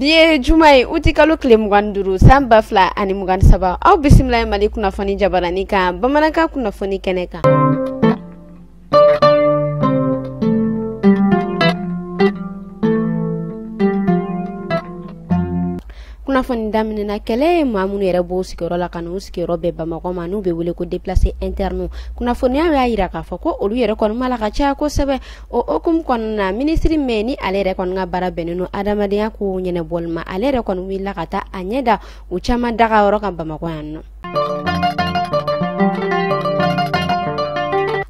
bi ye juma ye uti kalo tile mugan ni duuru san ba fila ani mugan ni saba aw bisimilahi mali kunnafoni jabarani kan bamanankan kunnafoni kɛnɛ kan kunnafoni daminɛna kɛlɛ ye maa minnu yɛrɛ b'u sigiyɔrɔ la ka n'u sigiyɔrɔ bɛn bamakɔ ma n'u bɛ wele ko déplacé interne kunnafoniyaw y'a yira k'a fɔ ko olu yɛrɛ kɔni ma la ka caya kosɛbɛ o hokumu kɔnɔna na minisiri min ni ale yɛrɛ kɔni ka baara bɛnnen don adamadenya kow ɲɛnɛbɔli ma ale yɛrɛ kɔni wulila ka taa a ɲɛ da u caman dagayɔrɔ kan bamakɔ yan nɔ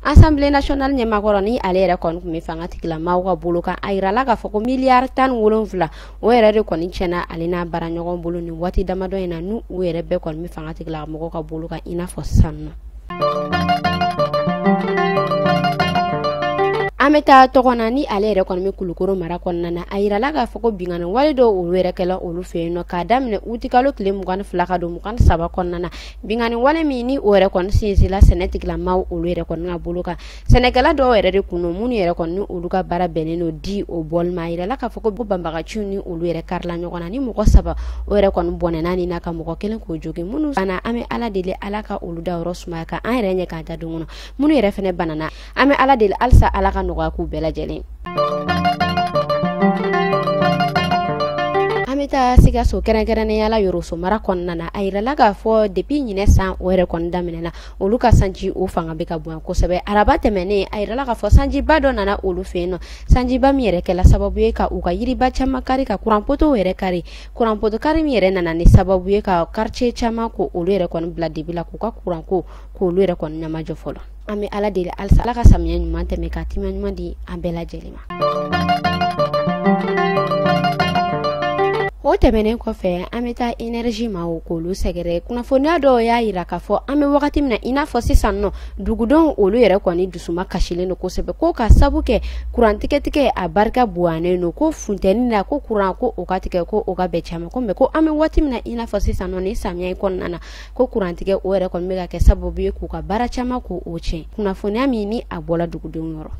Assemblée nationale ɲɛmaa kɔrɔ ni ale yɛrɛ kɔni tun bɛ fanga tigila maaw ka bolo kan a yirala k'a fɔ ko miliyari tan ni wolonwula o yɛrɛ de kɔni tiɲɛna ale n'a baara ɲɔgɔn bolo nin waati damadɔ in na n'u yɛrɛ bɛɛ kɔni bɛ fanga tigila mɔgɔw ka bolo kan i n'a fɔ sisan nɔ an bɛ taa tɔgɔna ni ale yɛrɛ kɔni bɛ kulukoro mara kɔnɔna na a yirala k'a fɔ ko binkanni wale dɔw olu yɛrɛ kɛla olu fɛ yen nɔ k'a daminɛ utikalo tile mugan ni fila ka don saba kɔnɔna na binkanni wale min ni o yɛrɛ kɔni sinsinla sɛnɛ tigilamaaw olu yɛrɛ kɔni ka bolo kan sɛnɛkɛla dɔw yɛrɛ de kun don minnu yɛrɛ kɔni olu ka baara bɛnnen don di o bɔli ma a yirala k'a fɔ ko banbaganciw ni olu yɛrɛ karila ɲɔgɔn na ni mɔgɔ saba o yɛrɛ kɔni bɔnɛna ni na ka mɔgɔ kelen k'o jogin minnu banna an bɛ ala deli ala ka olu da yɔrɔ sumaya ka an yɛrɛ ɲɛ k'an ta don kɔnɔ minnu yɛrɛ fana banana an bɛ ala deli halisa ala ka nɔgɔya k'u bɛɛ lajɛlen an bɛ taa sikaso kɛrɛnkɛrɛnnenya la yɔrɔso mara kɔnɔna na a yirala k'a fɔ depuis ɲinɛ san o yɛrɛ kɔni daminɛ na olu ka sanji o fanga bɛ ka bonya kosɛbɛ araba tɛmɛnen a yirala k'a fɔ sanjiba dɔ nana olu fɛ yen nɔ sanjiba min yɛrɛ kɛla sababu ye ka u ka yiriba caman kari ka kuranpotow yɛrɛ kari kuranpoto kari min yɛrɛ nana ni sababu ye ka quartier caman ko olu yɛrɛ kɔni bila dibi la k'u ka kuranko k'olu yɛrɛ kɔni ɲɛmajɔ fɔlɔ an bɛ ala deli halisa ala ka samiya ɲuman tɛmɛ ka timiya ɲuman di an bɛɛ lajɛlen ma o tɛmɛnen kɔfɛ an bɛ taa enerji maaw k'olu sɛgɛrɛ kunnafoniya dɔw y'a yira k'a fɔ an bɛ wagati min na i n'a fɔ sisan nɔ dugudenw olu yɛrɛ kɔni dusuma kasilen don kosɛbɛ ko ka sabu kɛ kurantigɛtigɛ a barika bonyanen don ko funteni na ko kuran ko o ka tigɛ ko o ka bɛn caman ko mais ko an bɛ waati min na i n'a fɔ sisan nɔ ni samiya in kɔnɔna na ko kurantigɛ o yɛrɛ kɔni bɛ ka kɛ sababu ye k'u ka baara caman k'o tiɲɛ kunnafoniya min ni a bɔla dugudenw yɔrɔ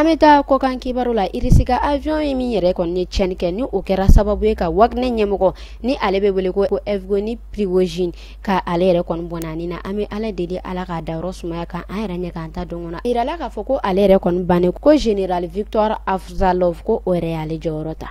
an bɛ taa kɔkan kibaru la irisi ka avion ye min yɛrɛ kɔni ye tiɲɛni kɛ ni o kɛra sababu ye ka wagner ɲɛmɔgɔ ni ale bɛ wele ko evgueni prigozhin K' ale yɛrɛ kɔni bɔnɛna ni na an bɛ ala deli ala k'a dayɔrɔ sumaya ka an yɛrɛ ɲɛ k'an ta don kɔnɔ a yirala k'a fɔ ko ale yɛrɛ kɔni bannen kɔ général victor afzalov ko o yɛrɛ y'ale jɔyɔrɔ ta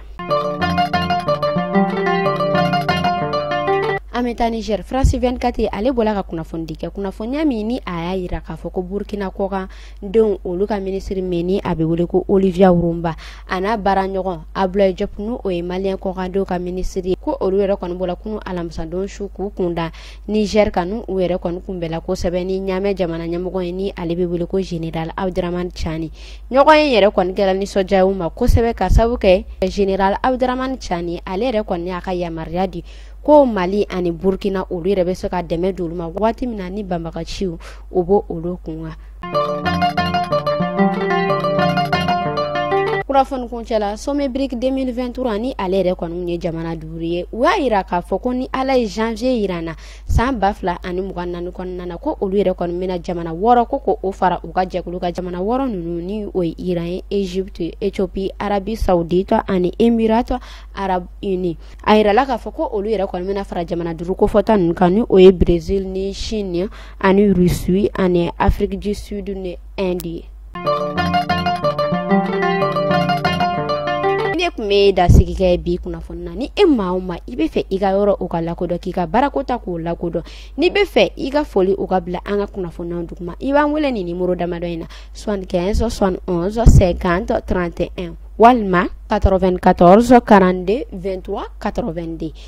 an bɛ taa niger france 24 ale bɔla ka kunnafonidi kɛ kunnafoniya min ni a y'a yira k'a fɔ ko burukina kɔkan denw olu ka minisiri min ni a bɛ wele ko olivia rouamba an'a baara ɲɔgɔn abdoulaye diop n' o ye mali kɔkandenw ka minisiri ye ko olu yɛrɛ kɔni bɔra kunun alamisadon su k'u kunda niger kan n'u yɛrɛ kɔni kunbɛnna kosɛbɛ ni ɲamɛ jamana ɲɛmɔgɔ ye ni ale bɛ wele ko général abdourahamane tiani ɲɔgɔnye yɛrɛ kɔni kɛra nisɔndiya ma kosɛbɛ ka sababu kɛ général abdourahamane tiani ale yɛrɛ kɔni y'a ka yamaruya di ko mali ani burukina olu yɛrɛ bɛ se ka dɛmɛ d'olu ma waati min na ni banbagaciw o bɔ olu kun kan kunnafoni kuncɛla sommet brics 2023 ni ale yɛrɛ kɔni ye jamana duuru ye u y'a yira k'a fɔ ko ni ala ye janvier yira an na san ba fila ani mugan naani kɔnɔna na ko olu yɛrɛ kɔni bɛna jamana wɔɔrɔ ko ko o fara u ka jɛkulu kan jamana wɔɔrɔ ninnu ni o ye iran ye egypte ethiopie arabie saoudite ani émirats arabes unis a yirala k'a fɔ ko olu yɛrɛ kɔni bɛna fara jamana duuru kofɔta ninnu kan ni o ye brésil ni chine ani russie ani afrique du sud ni inde ye ne tun bɛ e dansigi kɛ bi kunnafoni na ni e maa o maa i bɛ fɛ i ka yɔrɔ o ka lakodɔn k'i ka baarako ta k'o lakodɔn n'i bɛ fɛ i ka foli o ka bila an ka kunnafoniw duguma i b'an wele nin nimoro damadɔ in na soixante quinze soixante onze cinquante trente et un walima 94 42 23 82